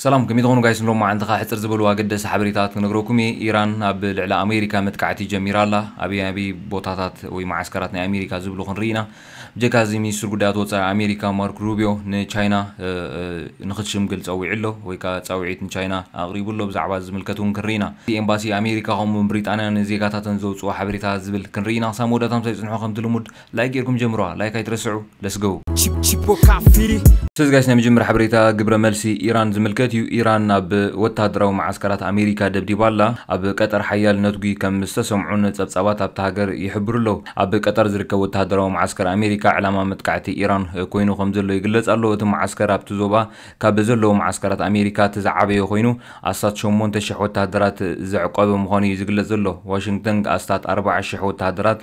ሰላም ከመይ ትኾኑ ጋይስ ንሎማዓንቲ ከኣ ሕጽር ዝበሉ ኣገደሲ ሓበሬታታት ክነግረኩም እየ ኢራን ኣብ ልዕሊ ኣሜሪካ መጥቃዕቲ ጀሚራ ኣላ ኣበይ ኣበይ ቦታታት ወይ መዓስከራት ናይ ኣሜሪካ ዝብሉ ክንርኢ ኢና ብጀካ እዚ ሚኒስትር ጉዳያት ወጻኢ ኣሜሪካ ማርክ ሩብዮ ንቻይና ንኽትሽምግል ጸዊዑ ኣሎ ወይ ከኣ ጻዊዒት ንቻይና ኣቕሪቡ ኣሎ ብዛዕባ እዚ ዝምልከት ውን ክንርኢ ኢና ኤምባሲ ኣሜሪካ ከምኡ ውን ብሪጣንያ ንዜጋታተን ዘውጽኦ ሓበሬታታት ዝብል ክንርኢ ኢና ክሳብ መወዳእታ ምሳይ ጽንሑ ከምቲ ልሙድ ላይክ ጌርኩም ጀምሩዋ ላይክ ኣይትረስዑ ለስ ጎው። Tipo Cafiri ሰዚ ጋይስ ናይ መጀመርያ ሓበሬታ ግብረ መልሲ ኢራን ዝምልከት እዩ። ኢራን ኣብ ወተሃደራዊ መዓስከራት ኣሜሪካ ደብዲባ ኣላ። ኣብ ቀጠር ሓያል ነትጒ ከም ዝተሰምዑን ጸብጻባት ኣብታ ሃገር ይሕብሩ ኣለዉ። ኣብ ቀጠር ዝርከብ ወተሃደራዊ መዓስከር ኣሜሪካ ዕላማ መጥቃዕቲ ኢራን ኮይኑ ከም ዘሎ ይግለጽ ኣሎ። እቲ መዓስከር ኣብቲ ዞባ ካብ ዘለዉ መዓስከራት ኣሜሪካ እቲ ዝዓበየ ኮይኑ ኣስታት ሸሞንተ ሽሕ ወተሃደራት ዘዕቆበ ምዃኑ እዩ ዝግለጽ ዘሎ። ዋሽንግተን ኣስታት ኣርብዓ ሽሕ ወተሃደራት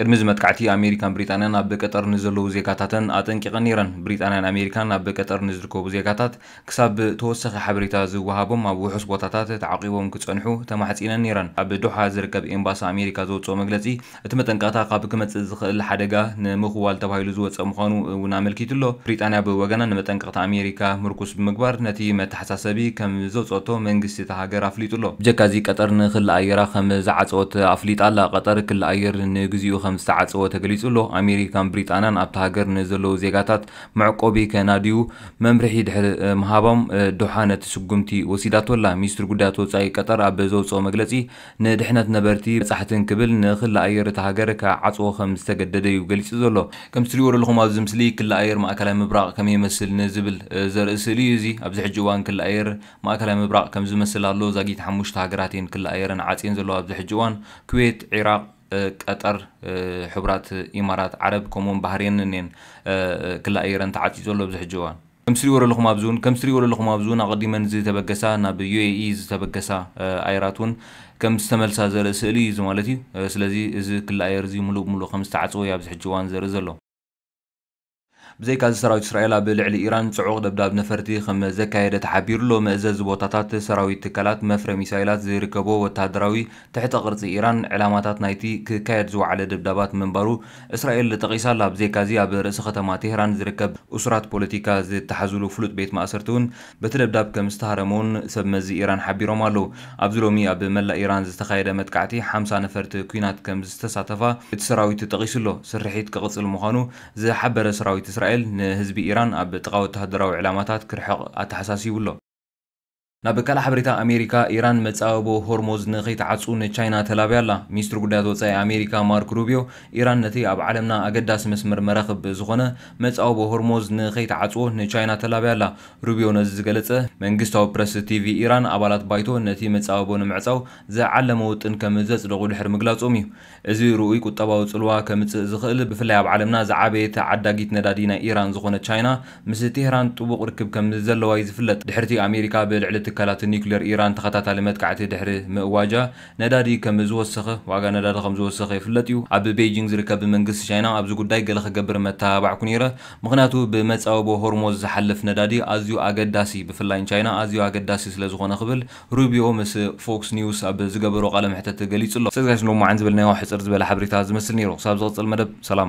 ቅድሚ እዚ መጥቃዕቲ ኣሜሪካን ብሪጣንያን ኣብ ቀጠር ንዘለዉ ዜጋታተን ኣጠንቂቐን ነይረን። ብሪጣንያን ኣሜሪካን ኣብ ቀጠር ንዝርከቡ ዜጋታት ክሳብ ተወሳኺ ሓበሬታ ዝወሃቦም ኣብ ውሑስ ቦታታት ተዓቚቦም ክጸንሑ ተማሕጺነን ነይረን። ኣብ ዶሓ ዝርከብ ኤምባሲ ኣሜሪካ ዘውጽኦ መግለጺ እቲ መጠንቀቕታ ካብ ክመጽእ ዝኽእል ሓደጋ ንምኽዋል ተባሂሉ ዝወጸ ምዃኑ እውን ኣመልኪቱ ኣሎ። ብሪጣንያ ብወገና ንመጠንቀቕታ ኣሜሪካ ምርኩስ ብምግባር ነቲ ሓሳሰቢ ከም ዘውጸኦቶ መንግስቲ እታ ሃገር ኣፍሊጡ ኣሎ። ብጀካ'ዚ ቀጠር ንክሊ ኣየራ ከም ዝዓጸወት ኣፍሊጣ ኣላ። ቀጠር ክሊ ኣየር ንግዚኡ ከም ዝተዓጸወ ተገሊጹ ኣሎ። ኣሜሪካን ብሪጣንያን ኣብታ ሃገር ንዘለዉ ዜጋታት መዕቆቢ ከናድዩ መምርሒ ድሕሪ ምሃቦም ዶሓ ነቲ ስጉምቲ ወሲዳቶ ኣላ። ሚኒስትሪ ጉዳያት ወጻኢ ቀጠር ኣብ ዘውጸኦ መግለጺ፣ ንድሕነት ነበርቲ፣ በጻሕትን ክብል ንክሊ ኣየር እታ ሃገር ክዓጽዎ ከም ዝተገደደ'ዩ ገሊጹ ዘሎ። ከምቲ ትርእይዎ ዘለኹም ኣብዚ ምስሊ ክሊ ኣየር ማእከላይ ምብራቕ ከመይ ይመስል ንዝብል ዘርኢ ስእሊ እዩ እዚ። ኣብዚ ሕጂ እዋን ክሊ ኣየር ማእከላይ ምብራቕ ከምዚ ይመስል ኣሎ። ዛጊት ሓሙሽተ ሃገራት እየን ክሊ ኣየረን ዓጽየን ዘለዋ ኣብዚ ሕጂ እዋን፣ ኩዌት፣ ዒራቕ፣ ቀጠር፣ ሕቡራት ኢማራት ዓረብ ከምኡ'ውን ባህሬንን እየን ክሊ ኣየረን ተዓጽዩ ዘሎ ኣብዚ ሕጂ እዋን። ከምቲ ትሪእዎ ዘለኹም ኣብዚ እውን ከምቲ ትሪእዎ ዘለኹም ኣብዚ እውን ኣቐዲመን ዝተበገሳ ናብ UAE ዝተበገሳ ኣየራት እውን ከም ዝተመልሳ ዘርኢ ስእሊ እዩ እዚ ማለት እዩ። ስለዚ እዚ ክሊ ኣየር እዚ ምሉእ ብምሉእ ከም ዝተዓጽወ እዩ ኣብዚ ሕጂ እዋን ዘርኢ ዘሎ። ብዘይካ እዚ ሰራዊት እስራኤል ኣብ ልዕሊ ኢራን ጽዑቕ ደብዳብ ነፈርቲ ከም ዘካየደ ተሓቢሩ ኣሎ። መእዘዚ ቦታታት ሰራዊት ትካላት መፍረ ሚሳይላት ዝርከቦ ወተሃደራዊ ትሕተ ቅርጺ ኢራን ዕላማታት ናይቲ ክካየድ ዝወዓለ ደብዳባት ምንባሩ እስራኤል ጠቒሳ ኣላ። ብዘይካ'ዚ ኣብ ርእሲ ከተማ ቴህራን ዝርከብ እሱራት ፖለቲካ ዝተሓዙሉ ፍሉጥ ቤት ማእሰርቲ'ውን በቲ ደብዳብ ከም ዝተሃረመ'ውን ሰብ መዚ ኢራን ሓቢሮም ኣለዉ። ኣብዚ ሎሚ ኣብ መላእ ኢራን ዝተኻየደ መጥቃዕቲ ሓምሳ ነፈርቲ ኲናት ከም ዝተሳተፋ እቲ ሰራዊት ጠቒሱ ኣሎ። ስርሒት ክቕጽል ምዃኑ ዝሓበረ ሰራዊት እስራኤል ንህዝቢ ኢራን ኣብ ጥቓ ወተሃደራዊ ዕላማታት ክርሕቕ ኣተሓሳሲቡ ኣሎ። ናብ ካልእ ሓበሬታ ኣሜሪካ፣ ኢራን መጻብቦ ሆርሞዝ ንኸይትዓጹ ንቻይና ተላብያ ኣላ። ሚኒስትሪ ጉዳያት ወጻኢ ኣሜሪካ ማርክ ሩብዮ፣ ኢራን ነቲ ኣብ ዓለምና ኣገዳሲ መስመር መራኽብ ዝኾነ መጻብቦ ሆርሞዝ ንኸይትዓጽዎ ንቻይና ተላብያ ኣላ። ሩብዮ ነዚ ዝገለጸ፣ መንግስታዊ ፕረስ ቲቪ ኢራን ኣባላት ባይቶ ነቲ መጻብቦ ንምዕጻው ዝዓለመ ውጥን ከም ዘጽደቑ ድሕሪ ምግላጾም እዩ። እዚ ርኡይ ቁጠባዊ ጽልዋ ከምጽእ ዝኽእል፣ ብፍላይ ኣብ ዓለምና ዝዓበየት ዓዳጊት ነዳዲ ናይ ኢራን ዝኾነት ቻይና፣ ምስ ቴህራን ጥቡቕ ርክብ ከምዘለዋ'ዩ ዝፍለጥ። ድሕሪ'ቲ ኣሜሪካ ብልዕሊ ትካላት ኒኩሌር ኢራን ተኸታታሊ መጥቃዕቲ ድሕሪ ምእዋጃ፣ ነዳዲ ከምዝወሰኸ፣ ዋጋ ነዳዲ ከምዝወሰኸ ይፍለጥ'ዩ። ኣብ ቤይጂንግ ዝርከብ መንግስቲ ቻይና ኣብዚ ጉዳይ ገለ ክገብር መተባባዕኩ ነይረ፣ ምኽንያቱ ብመጻብቦ ሆርሞዝ ዝሓልፍ ነዳዲ ኣዝዩ ኣገዳሲ፣ ብፍላይ ንቻይና ኣዝዩ ኣገዳሲ ስለዝኾነ ክብል ሩቢኦ ምስ ፎክስ ኒውስ ኣብ ዝገበሮ ቃለ መሕተት ገሊጹ'ሎ። ሰዚ ጋይስ ሎሚ መዓን ዝበልናዮ ሕጽር ዝበለ ሓበሬታ ዝመስል ኔሩ ክሳብ ዝቅጽል መደብ ሰላም።